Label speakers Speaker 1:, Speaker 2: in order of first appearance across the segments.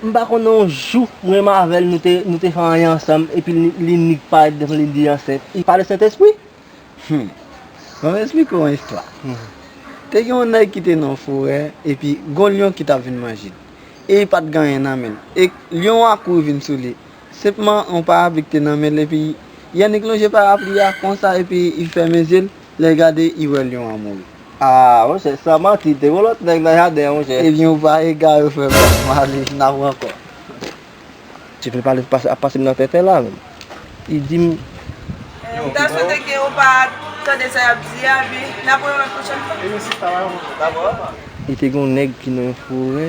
Speaker 1: M pa konnen yon jou mwen m avèl nou te nou te fè anyen ansanm epi li nik parèt devan li di ansent li pa de sentespri? Humm
Speaker 2: banm esplike w yon istwa te gen yon nèg ki te nan yon forè epi gon lyon ki tap vin manjel e li pat gen anyen nan menl e lyon an kouri vin sou li Senpman yon parapli k te nan men l epi Yannick lonje parapli a konsa epi i fèmen zye l lè l gade i wè lyon an mouri. Aa monchè
Speaker 1: san manti te gon lòt nèg nan jaden an monchè. Ebyen ou pa egare
Speaker 2: frè pam. Ale n ap ran kò.
Speaker 1: Ti pèp ale ap pase m nan tenten la menm. Li di m. M ta
Speaker 3: swete ke ou pa tande sa y ap di a epi n ap pran yon lòt pwochèn fwa. Li te gen yon
Speaker 1: nèg ki nan yon forè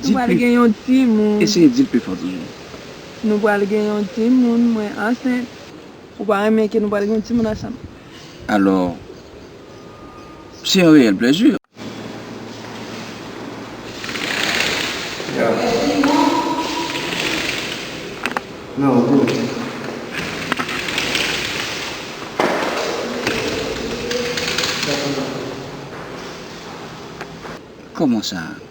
Speaker 3: Nou pral gen yon timoun. Eseye di l pi fò toujou.
Speaker 4: Nou pral
Speaker 3: gen yon timoun. Mwen ansent. Ou pa renmen ke nou pral gen yon timoun ansanm? Alò,
Speaker 4: se yon reyèl plezi. Kòman sa?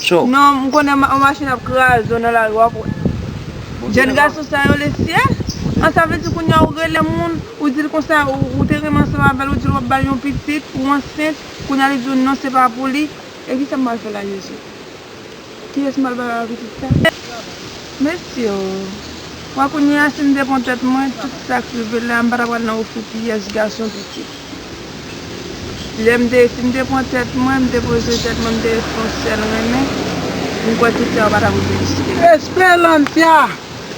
Speaker 4: Cho. Non m konnen yon
Speaker 3: machin ap kraze w nan lari wap wè. Jèn gason sa yo lesye. An sa vle di kounye a ou rele moun ou dil konsa ou te renmen ansanm avèl ou dil wap bal yon pitit ou ansent kounye a li di w non se pa pou li e kisa m pral fè la jezi kiyès m pral bay yon pitit sa mesye oo wè kounye a si m te pran tèt mwen tout sak rive la m pa ta pral nan ofri pyès gason pitit. Lè m te fin te pran tèt mwen, m te poze tèt mwen, m te ret fè yon sèl renmen, m kwè tout sa yo pa ta pou vin riske la. Esperantia!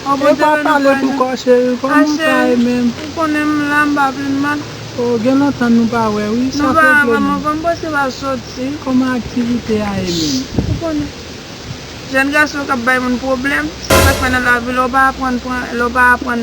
Speaker 5: Ou pa
Speaker 3: pale tou
Speaker 5: kò cheri, kòman sa ye menm? Ah cheri, ou konnen m la, m
Speaker 3: pa vle mal. Oh gen lontan
Speaker 5: nou pa wè wi, sa fè plen. Nou pa wè anvan, m panse w
Speaker 3: al
Speaker 5: soti.
Speaker 3: Kòman aktivite
Speaker 5: a ye menm? Ou konnen.
Speaker 3: Jèn gason k ap bay moun pwoblèm, se sa k fè nan lavi lè w pa aprann pran, lè w pa aprann.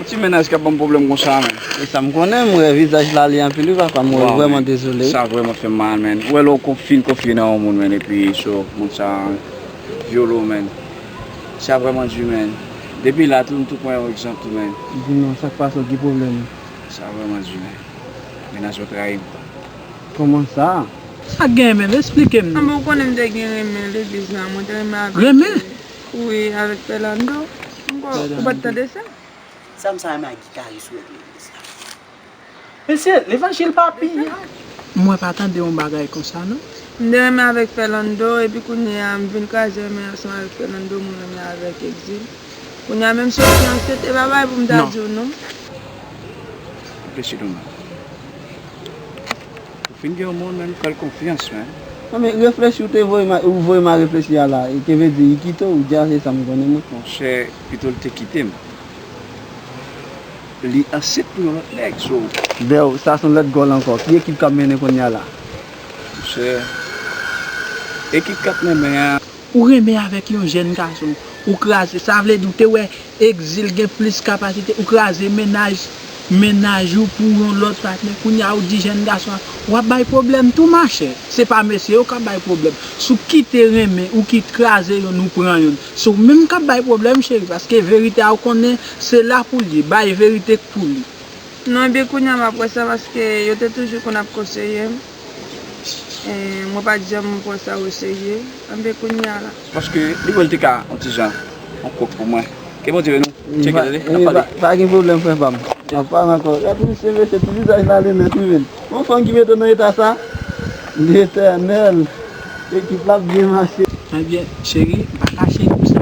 Speaker 4: Yon ti mennaj kap banm pwoblèm konsa man. Se sam konnen, m wè
Speaker 2: vizaj Laali anpil wi papa, m wèl vrèman dezole wi. Sa vrèman fèm mal
Speaker 4: man. Ou wè lè ou fin konfye nan yon moun man epi so moun sa vyole w man. Sa vrèman du man. Depi la tou m tou pran yon egzanp tou man. Di non, sak pase w
Speaker 2: ki pwoblèm ou? Sa vrèman du
Speaker 4: man. Mennaj mwen trayi m. Kòman
Speaker 2: sa? Sak gen menm?
Speaker 5: Esplike m non. Anben ou konnen m te gen
Speaker 3: renmen l depi jan, mwen te renmen avèk li. Renmen?
Speaker 5: Wi avèk
Speaker 3: Fernando m kwè ou pat tande sa. Sa m sa
Speaker 6: renmen ak guitariste ou yo k legliz la.
Speaker 5: Mesye levanjil pa piyay. Mwen pa tande yon bagay konsa non. M te renmen avèk
Speaker 3: Fernando epi kounye a m vin kraze renmen ansanm avèk Fernando m renmen avèk Exil. Kounye a menm si yo fiyanse te bagay pou m ta di w non.
Speaker 4: Non. Ou fin gen yon moun menm fèl konfyans menm. Non men reflechi
Speaker 2: ou te voye ma ou voye ma reflechi a la e ke ve di li kite ou dja se sa m konnen non. Monchè pito l
Speaker 4: te kite m. Li ansent pou yon lòt nèg so. Bèw sa son
Speaker 2: lòt gòl ankò ki ekip kap mennen kounya la. Monchè
Speaker 4: ekip kap menmen an. Ou renmen avèk
Speaker 5: yon jèn gason, ou kraze, sa vle di ou te wè Exil gen plis kapasite, ou kraze mennaj mennaj ou pou yon lòt patnè, kounye a ou di jèn gason an, w ap bay pwoblèm tou machè, se pa mesye yo k ap bay pwoblèm, si w kite renmen, ou kit kraze yonn ou pran yonn, se w menm k ap bay pwoblèm cheri paske verite a ou konnen se la pou l ye, bay verite k pou li. Non epi kounye
Speaker 3: a m ap wè sa paske yo te toujou konn ap konseye m. Mwen pat janm pran sa o serye anben kounya la. Paske li wèl te
Speaker 4: ka yon ti jan yon kok pou mwen. Ke Bondye beni w tcheke tande nap pale. Pa gen pwoblèm frè pam.
Speaker 2: Nan pale ankò. Gad misye mesye ti vizaj la li mèt wi menn. Yon fanm ki mete w nan eta sa. Letènèl. Ekip la ap byen mache. Ebyen cheri
Speaker 5: m pa kache nou sa.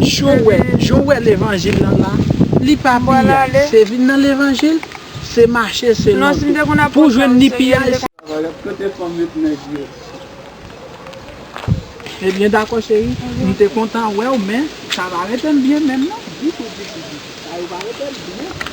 Speaker 5: Joel jan w wè levanjil lan la li pa piyay se vin
Speaker 3: nan
Speaker 5: levanjil se mache se lonje
Speaker 3: pou w
Speaker 5: jwenn
Speaker 3: ni piyay
Speaker 5: se. Kote fanm
Speaker 2: yo t nèg yo.
Speaker 5: Ebyen dakò cheri m te kontan wè w men sa pa rete m byen menm non ditou ditou ditou sa yo pa rete m byen.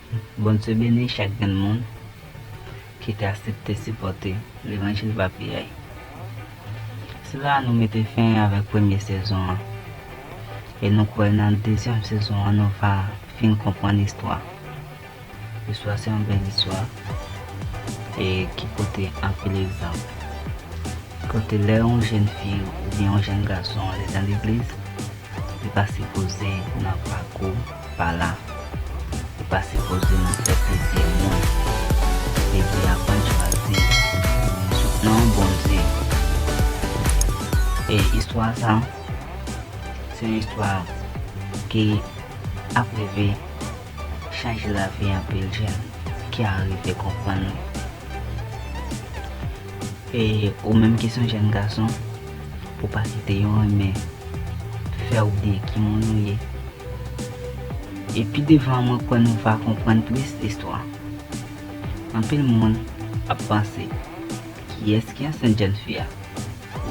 Speaker 6: Bondye beni chak grenn moun ki te asepte sipòte levanjil pa piyay. Se la a nou mete fen avèk premye sezon an e nou kwè nan dezyèm sezon an nou va fin konprann istwa. Istwa se yon bèl istwa e ki pote anpil egzanp. Kote lè yon jenn fi oubyen yon jenn gason ale nan legliz li pa sipoze nan pakou. Pala ou pa sipoze nan fè plezi moun Baby aprann chwazi Nan yon bon di E istwa sa Se yon istwa ki ap rive chanje lavi anpil jèn ki arive konprann li E ou menm ki son jèn gason Pou pa site yon renmen fè oubliye ki moun ou ye. E pi devan mwen kwè nou va konprann plis listwa. Anpil moun ap panse kiyès ki ansent jèn fi a?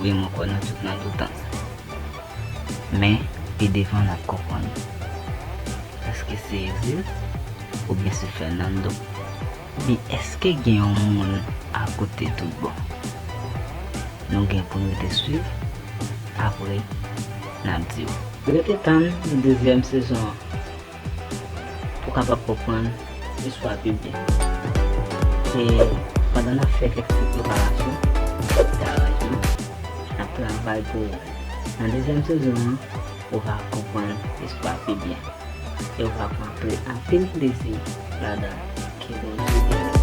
Speaker 6: Wi mwen kwè nou tout nan doutans. Men pi devan nap konprann. Eske se Exil oubyen se Fernando? Di eske gen yon moun akote tout bon. Nou gen poun rete swiv apre nap diw. Rete tann dezyèm sezon an pou kapab konprann istwa pi byen. Se pandan nap fè kèk ti preparasyon, kèk ti aranjman, nap travay pou ou. Nan dezyèm sezon an. ou va konprann istwa pi byen e ou va pran ple anpil plezi ladan l. Ke Bondye beni w.